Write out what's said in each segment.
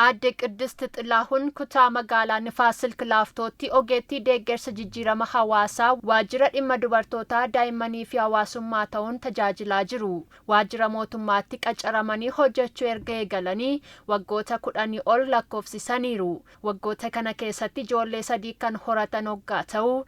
Aadde Qiddist Xilaahun kutaa magaalaa Nifaas Silk Laaftootti ogeettii deeggarsa jijjiirama hawaasaa waajjira dhimma dubartootaa, daa'immanii fi hawaasummaa ta'uun tajaajilaa jiru. Waajjira mootummaatti qacaramanii hojjechuu erga eegalanii waggoota kudhanii ol lakkoofsisaniiru. Waggoota kana keessatti ijoollee sadii kan horatan oggaa ta'u,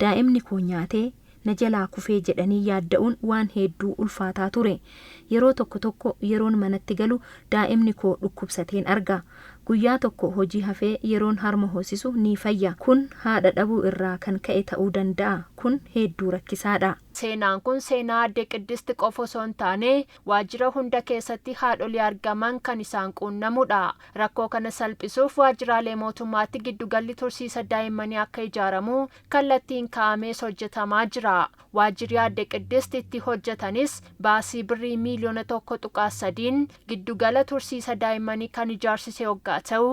Daa'imni koo nyaatee na jalaa kufee jedhanii yaadda'uun waan heedduu ulfaataa ture. Yeroo tokko tokko yeroon manatti galu daa'imni koo dhukkubsateen arga. Guyyaa tokko hojii hafee yeroon harma hoosisu ni fayya. Kun haadha dhabuu irraa kan ka'e ta'uu danda'a. Kun heedduu rakkisaadha. Seenaan kun seenaa Aadde Qiddist qofa osoo hin taane, waajjira hunda keessatti haadholii argaman kan isaan quunnamudha. Rakkoo kana salphisuuf waajjiraalee mootummaatti giddugalli tursiisa daa'immanii akka ijaaramu kallattiin kaa'amees hojjetamaa jira. Waajjiri Aadde Qiddist itti hojjetanis baasii birrii miiliyoona 1.3n giddugala tursiisa daa'immanii kan ijaarsise oggaa ta'u,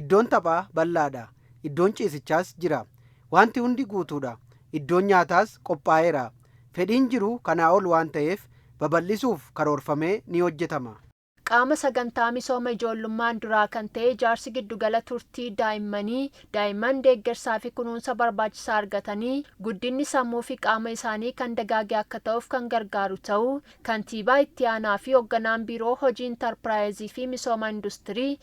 Iddoon taphaa bal'aadha. Iddoon ciisichaas jira. Waanti hundi guutuudha. Iddoon nyaataas qophaa'eera. Fedhiin jiru kanaa ol waan ta'eef babal'isuuf karoorfamee ni hojjetama. Qaama sagantaa misooma ijoollummaan duraa kan ta'e ijaarsi giddugala turtii daa'immanii, daa'imman deeggarsaafi kunuunsa barbaachisaa argatanii guddinni sammuufi qaama isaanii kan dagaage akka ta'uuf kan gargaaru ta'uu Kantiibaa Itti Aanaafi Hogganaan Biiroo Hojii Intarpiraayiziifi Misooma Industirii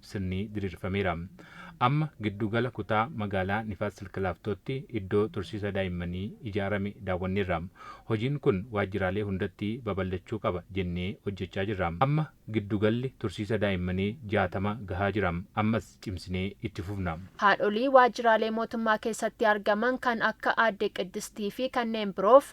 sirnii diriirfameera. Amma giddu gala kutaa magaalaa Nifaas Silk Laaftootti iddoo tursiisa daa'immanii ijaarame daawwanneerra. Hojiin kun waajjiraalee hundatti babal'achuu qaba jennee hojjechaa jirra. Amma giddu galli tursiisa daa'immanii 60 gahaa jira. Ammas cimsinee itti fufna. Haadholii waajjiraalee mootummaa keessatti argaman kan akka Aadde Qiddistii fi kanneen biroof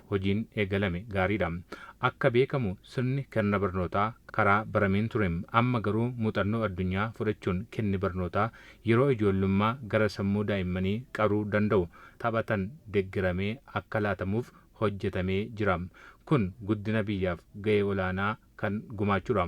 hojiin eegalame gaariidha. Akka beekamu sirni kerna barnootaa karaa barameen ture. Amma garuu muuxannoo addunyaa fudhachuun kenni barnootaa yeroo ijoollummaa gara sammuu daa'immanii qaruu danda'u taphatan deggeramee akka laatamuuf hojjetamee jira. Kun guddina biyyaaf ga'ee olaanaa kan gumaachuudha.